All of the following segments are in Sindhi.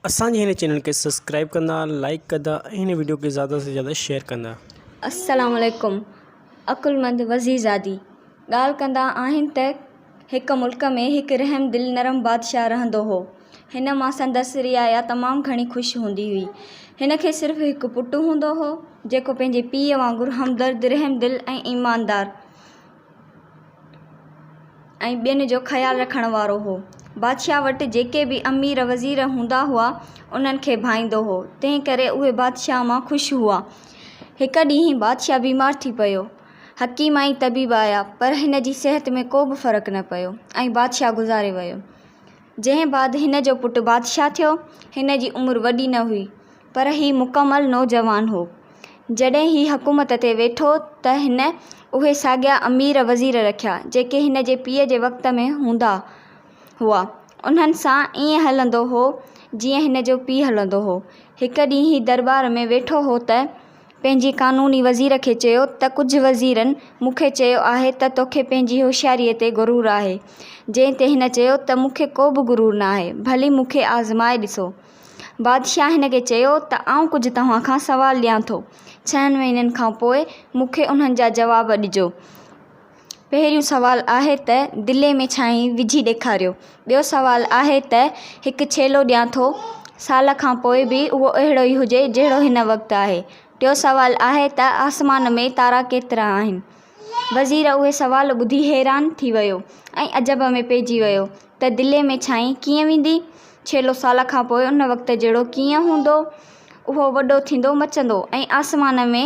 اسان جي هن چينل کي سبسڪرائب ڪندا لائڪ ڪندا ۽ هن وڊيو کي زياده سان زياده شيئر ڪندا. السلام عليڪم عقلمند وزيرزادي ڳالهه ڪندا آهن ته هڪ ملڪ ۾ هڪ رحم دل نرم بادشاهه رهندو هو هن مان سندس رعايا تمام گهڻي خوش هوندي هئي هن کي صرف هڪ پٽ هوندو هو جيڪو پنهنجي پيء وانگر همدرد رحم دل ۽ ايماندار ۽ ٻين جو خيال رکڻ وارو هو. بادشاهه وٽ جيڪي به امير وزير هوندا هئا، انهن کي ڀائيندو هو، تنهن ڪري اهي بادشاهه مان خوش هئا. هڪ ڏينهن بادشاهه بيمار ٿي پيو. حڪيم ۽ طبيب آيا، پر هن جي صحت ۾ ڪو به فرق نه پيو ۽ بادشاهه گذاري ويو. جنهن بعد هن جو پٽ بادشاهه ٿيو. هن جي عمر وڏي نه هئي، پر هي مڪمل نوجوان هو. جڏهن هي حڪومت تي ويٺو ته هن اهي ساڳيا امير وزير رکيا، جيڪي هن جي پيء جي وقت ۾ هوندا هئا. انهن سان ائين هلندو هو، جيئن هن جو پيء هلندو هو. هڪ ڏينهن هي درٻار ۾ ويٺو هو ته. پنهنجي قانوني وزير کي چيو ته ڪجهه وزيرن مون کي چيو آهي ته توکي پنهنجي هوشياريء تي غرور آهي. جنهن تي هن چيو ته مون کي ڪو به غرور ناهي، ڀلي مون کي آزمائي ڏسو. بادشاهه هن کي چيو ته آئون ڪجهه توهان کان سوال ڏيان ٿو. ڇهن مهينن کان پوء مون کي انهن جا جواب ڏجو. پهريون سوال آهي ته دلي ۾ ڇانئين وجهي ڏيکاريو. ٻيو سوال آهي ته هڪ ڇيلو ڏيان ٿو، سال کان پوء به اهو اهڙو ئي هجي جهڙو هن وقت آهي. ٽيون سوال آهي ته آسمان ۾ تارا ڪيترا آهن؟ وزير اهي سوال ٻڌي حيران ٿي ويو ۽ عجب ۾ پئجي ويو ته دلي ۾ ڇانئين ڪيئن ويندي؟ ڇيلو سال کان پوء ان وقت جهڙو ڪيئن هوندو؟ اهو وڏو ٿيندو مچندو ۽ آسمان ۾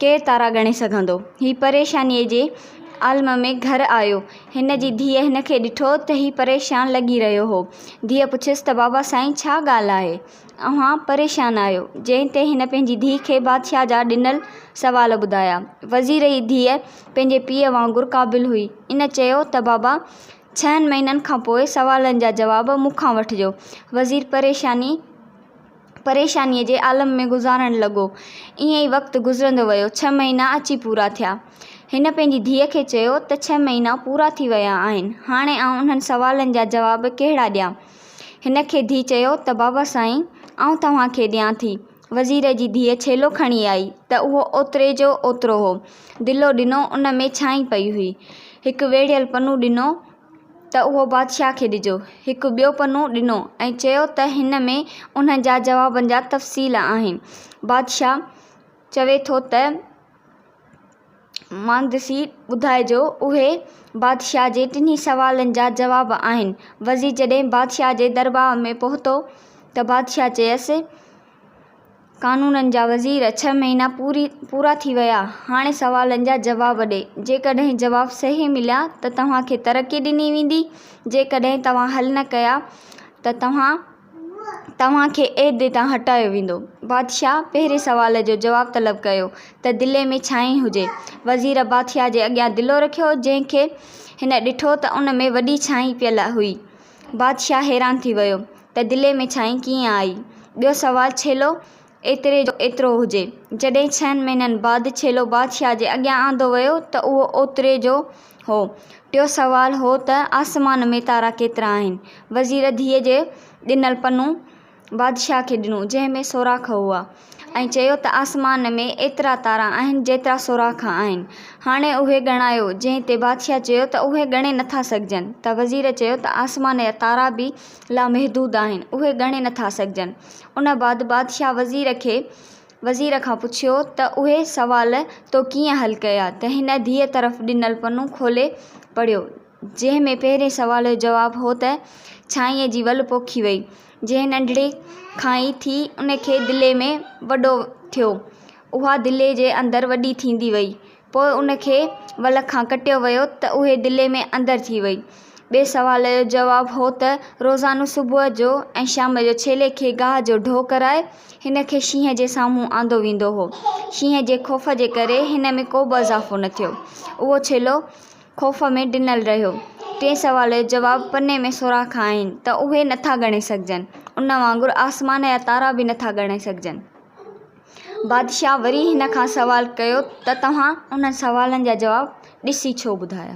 ڪير تارا ڳڻي سگهندو؟ هي پريشانيء جي عالم ۾ گهر آيو. هن جي ڌيء هن کي ڏٺو ته هي پريشان لڳي رهيو هو. ڌيء پڇيس ته بابا سائين ڇا ڳالهه آهي؟ اوهان پريشان آهيو؟ جنهن تي هن پنهنجي ڌيء کي بادشاهه جا ڏنل سوال ٻڌايا. وزير جي ڌيء پنهنجي پيء وانگر قابل هئي. ان چيو ته بابا ڇهن مهينن کان پوء سوالن جا جواب مون کان وٺجو. وزير پريشاني. پريشانيء جي عالم ۾ گذارڻ لڳو. ائين ئي وقت گذرندو ويو. ڇهه مهينا اچي پورا ٿيا. هن پنهنجي ڌيء کي چيو ته ڇهه مهينا پورا ٿي ويا آهن. هاڻي آئون انهن سوالن جا جواب ڪهڙا ڏيان؟ هن کي ڌيء چيو ته بابا سائين آئون توهان کي ڏيان ٿي. وزير جي ڌيء ڇيلو کڻي آئي ته اهو اوتري جو اوترو هو. دلو ڏنو ان ۾ ڇانئين پئي هئي. هڪ ويڙهيل پنو ڏنو. ته اهو بادشاهه کي ڏجو. هڪ ٻيو پنو ڏنو ۽ چيو ته هن ۾ انهن جا جوابن جا تفصيل آهن. بادشاهه چوي ٿو ته مهندسي ٻڌائجو. اهي بادشاهه جي ٽنهي سوالن جا جواب آهن. وزير جڏهن بادشاهه جي درباء ۾ پهتو ته بادشاهه چيس قانونن جا وزير ڇهه مهينا پوري پورا ٿي ويا هاڻي سوالن جا جواب ڏي جيڪڏهن جواب صحيح مليا ته توهان کي ترقي ڏني ويندي جيڪڏهن توهان حل نه ڪيا ته توهان توهان کي عهدي تان هٽايو ويندو بادشاهه پهرين سوال جو جواب طلب ڪيو ته دلي ۾ ڇانئن هجي وزير بادشاهه جي اڳيان دلو رکيو جنهن کي هن ڏٺو ته ان ۾ وڏي ڇانئن پيل هئي بادشاهه حيران ٿي ويو ته دلي ۾ ڇائين ڪيئن آئي؟ ٻيو سوال ڇيلو ايتري جو ايترو هجي. جڏهن ڇهن مهينن بعد ڇيلو بادشاهه جي اڳيان آندو ويو ته اهو اوتري جو هو. ٽيو سوال هو ته آسمان ۾ تارا ڪيترا آهن؟ وزير ڌيء جي ڏنل پنو بادشاهه کي ڏنو، جنهن ۾ سوراخ هئا. ائين چيو ته آسمان ۾ ايترا تارا آهن جيترا سوراخ آهن. هاڻي اهي ڳڻايو. جنهن تي بادشاهه چيو ته اهي ڳڻي نه ٿا سگهجن. ته وزير چيو ته آسمان جا تارا به لامحدود آهن. اهي ڳڻي نه ٿا سگهجن. ان بعد بادشاهه وزير کي وزير کان پڇيو ته اهي سوال تو ڪيئن حل ڪيا؟ ته هن ڌيء طرف ڏنل پنو کولي پڙهيو. جنهن ۾ پهرئين سوال جو جواب هو ته ڇانئيء جي ول پوکي وئي، جنهن ننڍڙي کان ئي ٿي ان کي دلي ۾ وڏو ٿيو، اها دلي جي اندر وڏي ٿيندي وئي، پوء ان کي ول کان ڪٽيو ويو ته اهي دلي ۾ اندر ٿي وئي. ٻئي سوال جو جواب هو ته روزانو صبح جو ۽ شام جو ڇيلي کي گاهه جو ڍو ڪرائي هن کي شينهن جي سامهون آندو ويندو هو، شينهن جي خوف جي ڪري هن ۾ ڪوبه اضافو نه ٿيو، اهو ڇيلو خوف ۾ ڊنل رهيو. ٽئين سوال جو جواب پني ۾ سوراخ آهن ته اهي نه ٿا ڳڻي سگهجن. ان وانگر آسمان جا تارا به نه ٿا ڳڻي سگهجن. بادشاهه وري هن کان سوال ڪيو ته توهان انهن سوالن جا جواب ڏسي ڇو ٻڌايا؟